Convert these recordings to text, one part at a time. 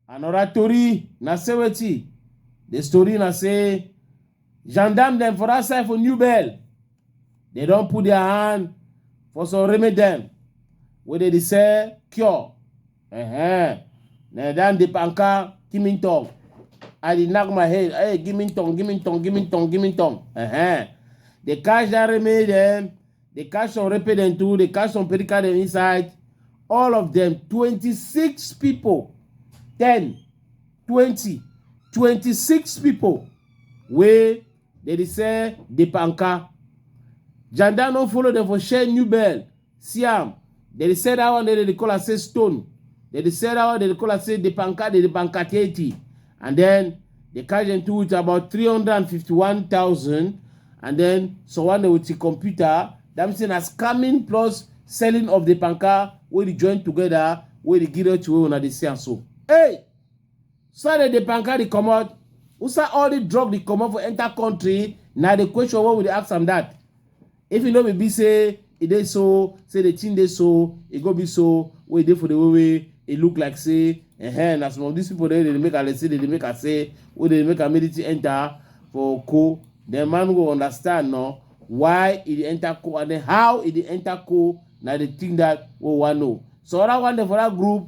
Another tori na say wetin? The story na say gendarme dem for that side for New Bell, they don put their hand for some remedy dem wey dey dey sell cure Ehe. Na dan dip anka kimin tong. I dey knock my head. Hey, give me tong, give me tong, give me tong, give me tong. Ehe. They catch that reme them. They catch some repe them too. They catch some pedika them inside. All of them, 26 people. 10, 20, 26 people. Wey they dey sell dip anka. Janda no follow them for share new bell. See am, dem dey sell that one, dem dey call am say stone. Dem dey sell that one, dem dey call am say the banka, the bankateti. And then they carry them to with about 351,000 and then someone dey with the computer. That means say na scamming plus selling of the banka wey dey join together wey dey give to wey una dey see am so. Hey! Sir, the banka dey comot. Usa all the drug dey comot for enter country. Na the question wey we dey ask am that. If e no be be say e dey so, say the thing dey so, e go be so wey e dey for the way wey e look like say eh na some of these people dey dey make am dey say dey dey make am say wey dey make am make the thing enter for co. Then man go understand no why e dey enter co and then how e dey enter co na the thing that we wan know. So other one dey for that group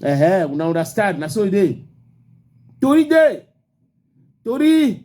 Uh-huh, una understand? Na so e dey. Tori dey. Tori